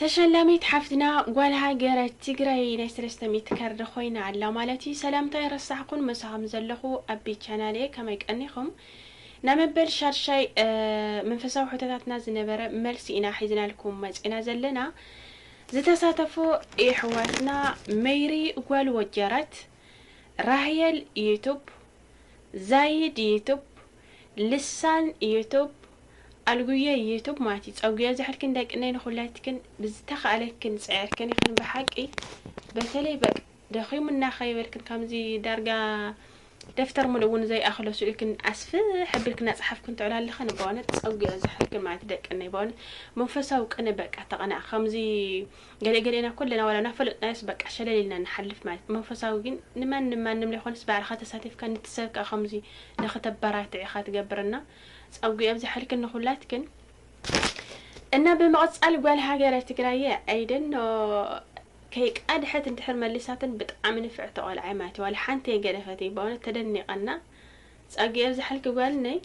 ተሸላሚት ሓፍትና ጓል ሃገረ ትግራይ ናይ ሰለስተ ሚእቲ ካርድ ኮይና ኣላ ማለት እዩ። ሰላምታ ይረሳሕኩን መሳኹም ዘለኹ ኣቢ ቻናል እየ ከመይ ቀኒኹም? ናይ መበል ሻድሻይ መንፈሳዊ ሕቶታትና ዝነበረ መልሲ ኢና ሒዝናልኩም መፂና ዘለና ዝተሳተፉ የሕዋትና መይሪ ጓል ወጀራት፣ ራህየል ዩቱብ፣ ዛይድ ዩቱብ፣ ልሳን ዩቱብ ኣልጉየ ዩቱብ ማቲ ጸጉየ ዝሕልክን ደቅነይ ንኩለትክን ብዝተካእለክን ጽዒርክን ኢክን ብሓቂ በተለይ በቅ ደኺሙና ከይበልክን ከምዚ ዳርጋ ደፍተር ሙሉእ እውን ዘይኣክሎ ስእልክን ኣስፍሕ ኣቢልክን ኣጽሓፍክን ትዕላ ኣለክን በእውነት ጸጉየ ዝሕልክን ማቲ ደቅነይ በእውነት መንፈሳዊ ቅነ በቃ ተቀና ከምዚ ገለ ገሌና ኩልና ዋላ ናፈለጥናዮስ በቃ ሸለል ኢልና ንሓልፍ ማለት እዩ መንፈሳዊ ግን ንማንም ማንም ለይኮነስ ባዕልካ ተሳቲፍካ ንቲ ሰብ ከኣ ከምዚ ንክተበራትዕ ኢካ ትገብር እና ጸጉ የብዘሐልክን ንኩላትክን እና ብምቅጻል ጓል ሃገረ ትግራይ እየ ኣይደኖ ከይቃድሐት እንድሕር መሊሳትን ብጣዕሚ ንፍዕቲ ቆልዓ እየ ማለት እዩ ዋላ ሓንቲ የገደፈትይ በእውነት ተደኒቀ እና ጸጉ የብዘሐልኪ ጓልነይ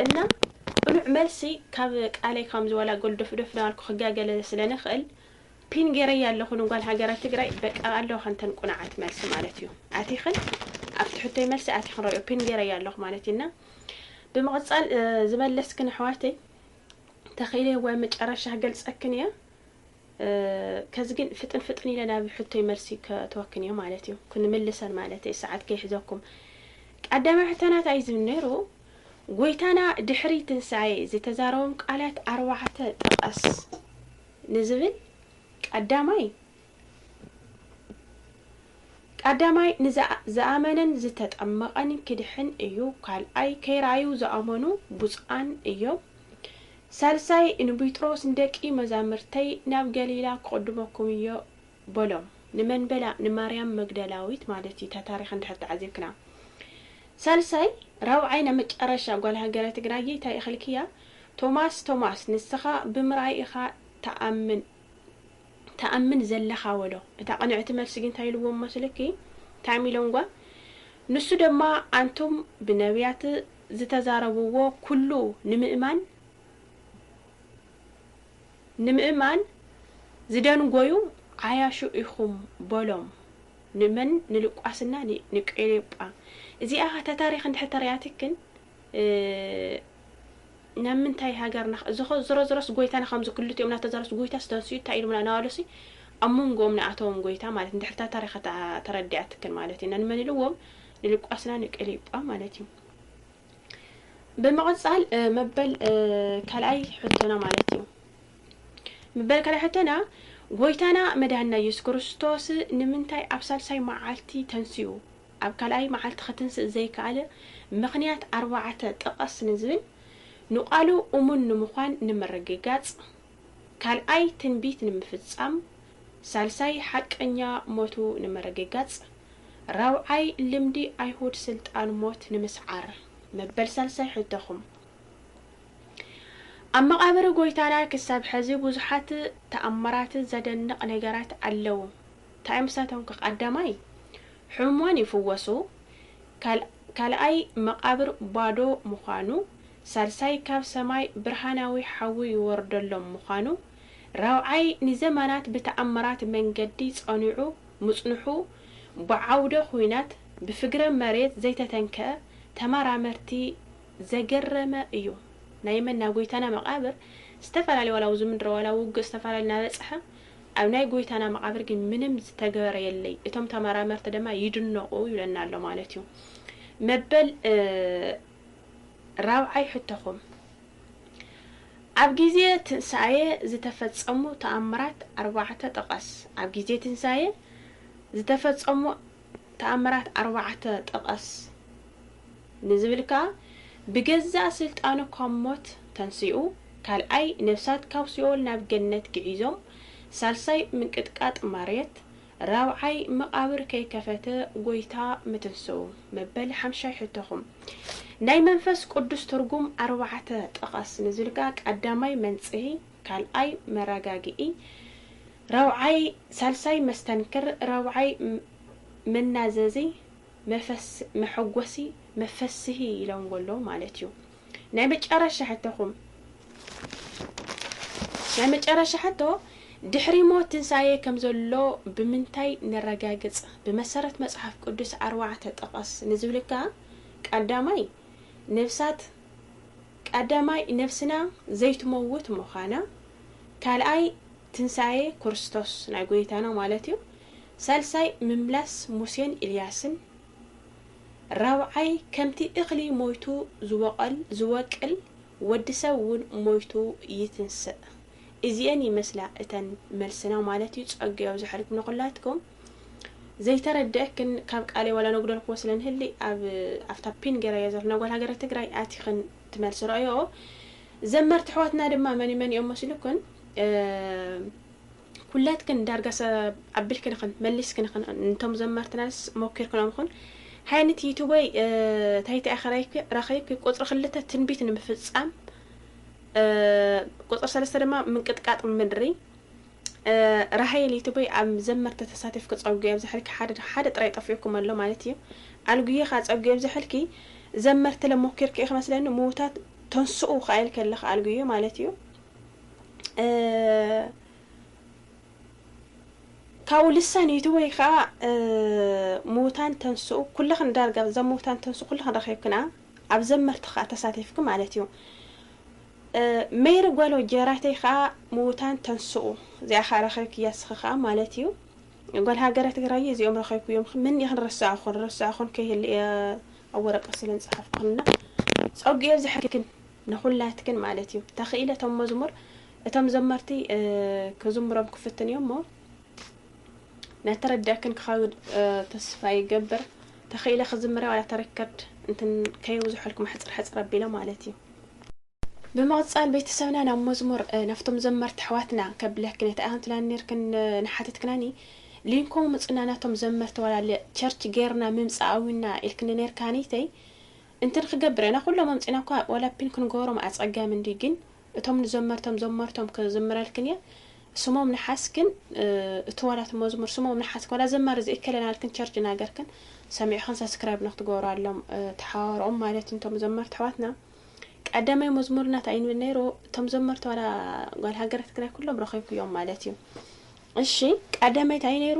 እና ቅኑዕ መልሲ ካብ ቃለይ ከም ዝወላ ጎልዶፍዶፍ ናበልኩ ክጋገለ ስለ ንኽእል ፒን ገይረያ ኣለኹ ንጓል ሃገረ ትግራይ በቃ ኣለዋ ከንተን ቁንዓት መልሲ ማለት እዩ ኣቲኽን ኣብቲ ሕቶይ መልሲ ኣቲኽን ረብዮ ፒን ገይረያ ኣለኹ ማለት እዩ እና ብምቕፃል ዝበለስክን ኣሕዋተይ ተኺኢለይ ወይ መጨረሻ ገልፀክን እያ ከዚ ግን ፍጥን ፍጥን ኢለ ናብ ሕቶይ መልሲ ከእትወክን እየ ማለት እዩ ክንምልሰን ማለት እየ ሰዓት ከይሕዘኩም ቀዳማይ ሕቶናት ኣይ ዝብል ነይሩ ጎይታና ድሕሪ ትንሳኤ ዝተዛረቦም ቃላት ኣርባዕተ ጥቐስ ንዝብል ቀዳማይ ቀዳማይ ንዝኣመነን ዝተጠመቐን ክድሕን እዩ ካልኣይ ከይረኣዩ ዝኣመኑ ብፁዓን እዮም ሳልሳይ ንቢጥሮስ ንደቂ መዛምርተይ ናብ ገሊላ ክቕድመኩም እዮ በሎም ንመን በላ ንማርያም መግደላዊት ማለት እዩ እታ ታሪኽ እንድሕር ተዓዚብክና ሳልሳይ ራብዓይ ናይ መጨረሻ ጓል ሃገረ ትግራይ እየ ታይ እኽልክያ ቶማስ ቶማስ ንስኻ ብምርኣይ ኢኻ ትኣምን ትኣምን ዘለኻ በሎ እታ ቅንዕቲ መልሲ ግን ታይ ኢልዎም መስልኪ ታሚሎንጓ ንሱ ደማ ኣንቱም ብነብያት ዝተዛረብዎ ኩሉ ንምእማን ንምእማን ዝደንጎዩ ዓያሹ ኢኹም በሎም ንመን ንልቋስና ንቄሌጳ እዚኣ ከ ተታሪኽ እንድሕር ተሪኣትክን ናብ ምንታይ ሃገርና እዚኸ ዝሮዝሮስ ጎይታና ከምዚ ክልቲኦም ናተዛረብስ ጎይታስ ተንስኡ እንታይ ኢሉምና ናበለሲ ኣብ መንጎኦም ንኣተዎም ጎይታ ማለት እንድሕር ታሪኽ ተረዲኣትክን ማለት ኢና ንመን ኢልዎም ንልቋስና ንቀሌጳ ማለት እዩ ብምቕጻል መበል ካልኣይ ሕቶና ማለት እዩ መበል ካልኣይ ሕቶና ጎይታና መድሃና ኢየሱስ ክርስቶስ ንምንታይ ኣብ ሳልሳይ መዓልቲ ተንስኡ ኣብ ካልኣይ መዓልቲ ክትንስእ ዘይከኣለ ምኽንያት ኣርባዕተ ጥቐስ ንዝብል ንቃሉ እሙን ንምዃን ንምርግጋጽ ካልኣይ ትንቢት ንምፍጻም፣ ሳልሳይ ሓቀኛ ሞቱ ንምርግጋጽ፣ ራብዓይ ልምዲ ኣይሁድ ስልጣን ሞት ንምስዓር። መበል ሳልሳይ ሕቶኹም። ኣብ መቓብር ጎይታና ክሳብ ሐዚ ብዙሓት ተኣምራት ዘደንቕ ነገራት ኣለዉ። ታይ እዮም ንሳቶም ከ ቐዳማይ ሕሙማን ይፍወሱ፣ ካልኣይ መቓብር ባዶ ምዃኑ፣ ሳልሳይ ካብ ሰማይ ብርሃናዊ ሓዊ ይወርደሎም ምዃኑ፣ ራብዓይ ንዘመናት ብተኣምራት መንገዲ ጸኒዑ ምጽንሑ ብዓውደ ኹናት ብፍግረ መሬት ዘይተተንከኣ ተመራመርቲ ዘገረመ እዩ። ናይ መን ናይ ጎይታና መቃብር ዝተፈላለዩ ዋላ ኣብዚ ምድረ ዋላ ውግእ ዝተፈላለዩ ናበጽሐ ኣብ ናይ ጎይታና መቃብር ግን ምንም ዝተገበረ የለይ እቶም ተመራመርቲ ደማ ይድነቁ ይብለና ኣሎ ማለት እዩ መበል ራብዓይ ሕቶኹም፣ ኣብ ግዜ ትንሳኤ ዝተፈጸሙ ተኣምራት ኣርባዕተ ጥቐስ። ኣብ ግዜ ትንሳኤ ዝተፈጸሙ ተኣምራት ኣርባዕተ ጥቐስ ንዝብል ከኣ፣ ብገዛእ ስልጣኑ ካብ ሞት ተንሲኡ፣ ካልኣይ ነፍሳት ካብ ሲኦል ናብ ገነት ግዒዞም፣ ሳልሳይ ምንቅጥቃጥ ማርየት፣ ራብዓይ መቓብር ከይከፈተ ጎይታ ምትንስኡ። መበል ሓምሻይ ሕቶኹም ናይ መንፈስ ቁዱስ ትርጉም ኣርባዕተ ጥቐስ ንዝሉ ከኣ ቀዳማይ መንጽሂ ካልኣይ መራጋግኢ ራብዓይ ሳልሳይ መስተንክር ራብዓይ መናዘዚ መፈስ መሐጎሲ መፈስሂ ኢሎምዎ ኣለዉ ማለት እዩ። ናይ መጨረሻ ሕቶኹም ናይ መጨረሻ ሕቶ ድሕሪ ሞት ትንሳኤ ከም ዘሎ ብምንታይ ነረጋግጽ ብመሰረት መጽሓፍ ቅዱስ ኣርባዕተ ጥቐስ ንዝብልካ ቀዳማይ ነብሳት ቀዳማይ ነብስና ዘይትመውት ምዃና ካልኣይ ትንሳኤ ክርስቶስ ናይ ጎይታና ማለት እዩ ሳልሳይ ምምላስ ሙሴን ኢልያስን ራብዓይ ከምቲ እኽሊ ሞይቱ ዝቦቐል ዝወቅል ወዲ ሰብ ውን ሞይቱ ይትንስእ እዚኤን ይመስላ እተን መልስና ማለት ዩ ፀግኡ ኣብዘሐልኩም ንኹላትኩም ዘይተረደኣክን ካብ ቃለይ ዋላ ነጉደልክዎ ስለ ንህሊ ኣብ ኣብታ ፒን ገይረያ ዘለኹ ናይ ጓል ሃገረ ትግራይ ኣቲኽን ትመልሲ ረኣዮኦ ዘመርቲ ኣሕዋትና ድማ መን መን እዮም መስልኩን ኩላትክን ዳርጋ ሰብ ኣቢልክን ኢኽን መሊስክን ኢኽን ንቶም ዘመርትናስ ሞኪርክኖም ኢኹን ሓየኒት ዩቱበይ ታይታይ ኣኸራይኪ ረኸይብኪ ቁጽሪ ክልተ ትንቢት ንምፍጻም ቁጽሪ ሰለስተ ድማ ምንቅጥቃጥ ምድሪ ራሃይል ዩቱበይ ኣብ ዘመርቲ ተሳቲፍኪ ጸጉ የብዝሐልኪ ሓደ ሓደ ጥራይ ጠፊኡኩም ኣሎ ማለት እዩ ኣልጉየኻ ጸጉ የብዝሐልኪ ዘመርትለ ሞኪርኪ ኢኺ መስለኒ ምውታት ተንስኡ ከኣይልከለኻ ኣልጉየ ማለት እዩ ካብኡ ልሳን ዩቱብ ወይ ከዓ ምውታን ተንስኡ ኩልኽን ዳርጋ ዘ ምውታን ተንስኡ ኩልኽን ረኺብክና ኣብ ዘመርቲ ከዓ ተሳቲፍክ ማለት እዩ መይሪ ጓሎ ጀራተይ ከዓ ምውታን ተንስኡ እዚኣ ከዓ ረኺብክ እያ ስኺ ከዓ ማለት እዩ ጓል ሃገረ ትግራይ እዚኦም ረኺብኩ እዮም ምን ይኽን ረስዕኹን ረስዕኹን ከይህል እየ ኣብ ወረቀት ስለ ንፅሓፍኩና ፀጉ የብዝሐልክን ንኩላትክን ማለት እዩ ተክኢለ እቶም መዝሙር እቶም ዘመርቲ ክዝምሮም ክፍትን እዮም እሞ ናተረድእክን ክኸውን ተስፋ ይገብር ተክኢለ ክዝምረ ዋላ ተረከርድ እንትን ከየብዝሖልኩም ሕፅር ሕፅር ኣቢለ ማለት እዩ ብምቕፃል ቤተሰብና ናብ መዝሙር ናብቶም ዘመርቲ ኣሕዋትና ከብለክን እቲ ኣንት ላኒርክን ንሓተትክናኒ ሊንኮም ምፅና ናቶም ዘመርቲ ዋላ ቸርች ጌርና ምምፃእ ኣዊና ኢልክኒ ነርካኒተይ እንትን ኽገብር ኣና ኩሎም ኣምጺና እኳ ዋላ ፒን ክንጎሮም ኣጸጋሚ እንድዩ ጊን እቶም ንዘመርቶም ዘመርቶም ክዝምረልክን እየ ስሞም ንሓስ ግን እቲ ዋላ እቲ መዝሙር ስሞም ንሓስ ዋላ ዘማሪ ዘይከለ ናልክን ቸርች ናገርክን ሰሚዕኽን ሳስክራይብ ንክትጎሩ ኣሎም ተሓዋወሮኦም ማለት እንቶም ዘመርቲ ኣሕዋትና ቀዳማይ መዝሙር ናት ኣይንብል ነይሩ እቶም ዘመርቲ ዋላ ጓል ሃገረ ትግራይ ኩሎም ረኺብክዮም ማለት እዩ እሺ ቀዳማይት ኣይ ነይሩ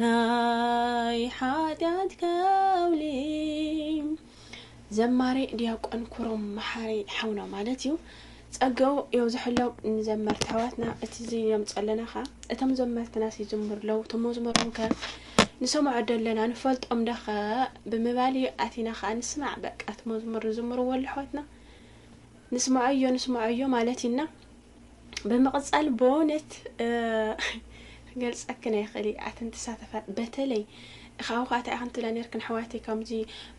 ናይ ሓጢኣት ከውሊ ዘማሪ ዲያቆን ኩሮም መሓሪ ሓውና ማለት እዩ ጸገኡ የብዝሐሎም ንዘመርቲ ኣሕዋትና እቲ ዝዮም ጸለና ኸ እቶም ዘመርትና ሲዝምር ለው እቶም መዝሙሮም ከ ንሰምዖ ደለና ንፈልጦም ደኸ ብምባል እዩ ኣቲና ከዓ ንስማዕ በቃ እቲ መዝሙር ዝዝምርዎ ኣሉ ኣሕዋትና ንስምዖዮ ንስምዖዮ ማለት እዩና ብምቕጻል ብእውነት ገልጸክን ኣይኽእል ኣትን ትሳተፋት በተለይ ካብኡ ከዓ እንታይ ኣክንትላ ነርክን ኣሕዋቲ ከምዚ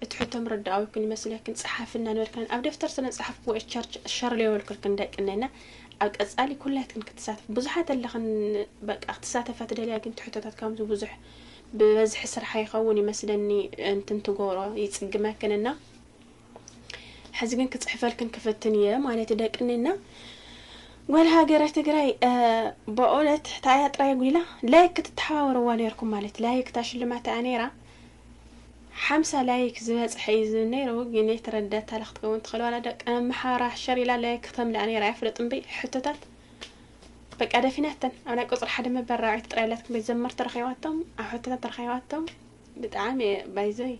እቲ ሕቶ ምርዳኣዊ ይኩን ይመስለክን ፀሓፍና ነርክን ኣብ ደፍተር ስነ ፀሓፍ ክወ ቸርች ሸርለ የበልክልክን ደቂ እነና ኣብ ቀጻሊ ኩላትክን ክትሳተፍ ብዙሓት ኣለኽን በቃ ክትሳተፋ ትደልያ ግን ትሕቶታት ከምዚ ብዙሕ ብበዝሒ ስርሓ ይኸውን ይመስለኒ እንትንትገብሮ ይጽግመክንና ሕዚ ግን ክፅሕፈልክን ክፍትን እየ ማለት ደቅኒና ጓል ሃገረ ትግራይ በእውነት ታያ ጥራይ ጉላ ላይክ ክትተሓባበርዋ ነርኩም ማለት ላይክ እታ ሽልማት እያ ነይራ ሓምሳ ላይክ ዝበፅሐ እዩ ዝብል ነይሩ ግን የተረዳት ታላ ክትከውን ትኽእል ዋላ ደቂ ኣምሓራ ሸር ኢላ ላይክ ክተምልኣ ነይራ ኣይፍለጥ እምበይ ሕቶታት በቃ ደፊናተን ኣብ ናይ ቁፅሪ ሓደ መበል ራብዒት ጥራይ ኣላትኩም ቤት ዘመርቲ ረኺባቶም ኣብ ሕቶታት ረኺባቶም ብጣዕሚ እየ ባይዘይ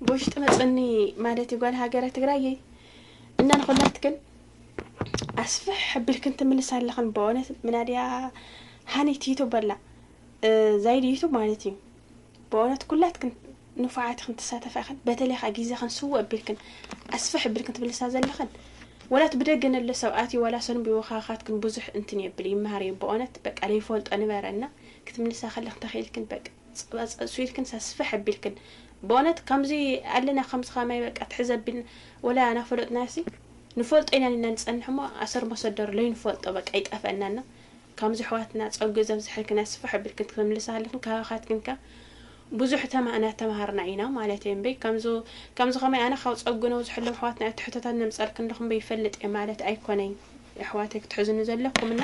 ብውሽጢ መፅኒ ማለት እዩ ጓል ሃገረ ትግራይ እይ እና ንኩላትክን ኣስፍሕ ሕብልክን ትምልስ ኣለኽን በእውነት ምናድያ ሃኒት ዩቱብ በላ ዛይድ ዩቱብ ማለት እዩ በእውነት ኩላትክን ንፉዓት ክን ትሳተፋ ኢኽን በተለይ ከዓ ግዜ ክን ስወ ኣቢልክን ኣስፍሕ ኣቢልክን ትብልሳ ዘለኽን ወላት ብደገ ነሎ ሰብኣት እዩ ዋላ ሰኑም ብወኻኻትክን ብዙሕ እንትን የብል ይመሃር እዩ በእውነት በቃ ለይፈልጦ ንበረ እና ክትምልሳ ከለኽን ተኽኢልክን በቃ ጸባ ጸብሱ ኢልክንሳ ስፍሕ ኣቢልክን በእውነት ከምዚ ኣለና ከምዚ ከማይ በቃ ትሕዝ ኣቢልና ወላ ናፈለጥናዮሲ ንፈልጦ ኢና ኒና ንጸንሕ እሞ ኣሰር መሰደሩ ለይንፈልጦ በቃ ይጠፈእና እና ከምዚ ኣሕዋትና ጸጉ ዘብዝሐልክና ስፍሕ ኣቢልክን ክትምልሳ ኣለክን ካባካትክን ከ ብዙሕ ተማ ናተማሃርና ኢና ማለተይ እምበይ ከምዚ ከምዚ ከማይ ኣነ ካብ ጸጉ ነብዝሐሎም ኣሕዋትና እትሕቶታት ነምጸልክን ኣለኩ እምበይ ይፈልጥ እየ ማለት ኣይኮነይ ኣሕዋተይ ክትሕዙኒ ዘለኩም እና